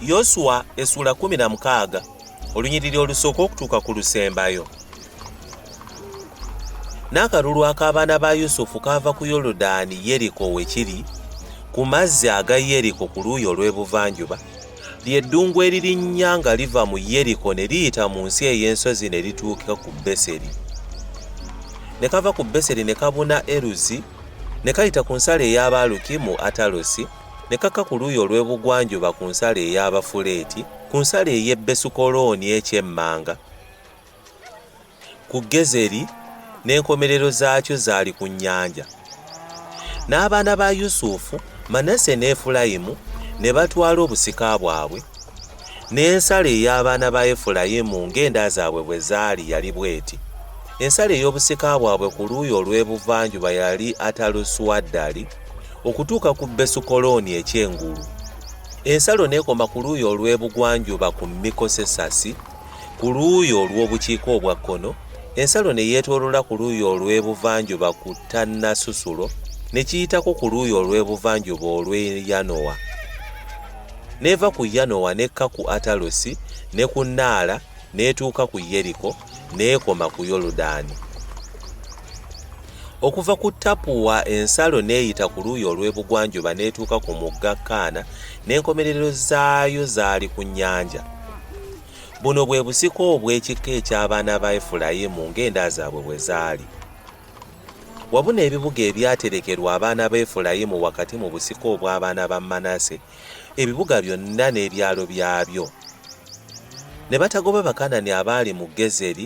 yoswa esula 16 olunyiriri olusooka okutuuka ku lusembayo n'akalulu ak'abaana ba yusufu kaava ku yoludaani yeriko we kiri ku mazzi aga yeriko ku luuyi olw'ebuvanjuba lye ddungu eririnnya nga liva mu yeriko ne liyita mu nsi ey'ensozi ne lituuka ku beseri ne kava ku beseri ne kabuna eruzi ne kayita ku nsalo ey'abaaluki mu atalosi ne kaka ku luuyi olw'ebugwanjuba ku nsalo ey'abafuleeti ku nsalo ey'e besukolooni ekyemmanga ku Gezeri n'enkomerero zaakyo zaali ku nnyanja. N'abaana ba Yusufu, Manase ne Efulayimu ne batwala obusika bwabwe, n'ensala ey'abaana ba Efulayimu ng'enda zaabwe bwe zaali yali bw'eti. Ensala ey'obusika bwabwe ku luuyi olw'ebuvanjuba yali Atalusuaddali okutuuka ku Besukolooni eky'engulu. Ensalo n'ekoma ku luuyi olw'ebugwanjuba ku Mikosesasi. ku luuyi olw'obukiika obwa kkono, ensalo ne yeetoolola ku luuyi olw'ebuvanjuba ku Tannasusulo, ne kiyitako ku luuyi olw'ebuvanjuba olw'e Yanoa, n'eva ku Yanoa n'ekka ku Atalosi ne ku Naala, n'etuuka ku Yeriko, n'ekoma ku Yoludaani. okuva ku tapuwa ensalo n'eyita ku luuyi olw'ebugwanjuba n'etuuka ku mugga kaana n'enkomerero zaayo zaali ku nnyanja buno bwe busika obw'ekika eky'abaana ba efulayimu ng'enda zaabwe bwe zaali wabuna ebibuga ebyaterekerwa abaana ba efulayimu wakati mu busika obw'abaana ba manase ebibuga byonna n'ebyalo byabyo ne batagoba bakanani abaali mu gezeri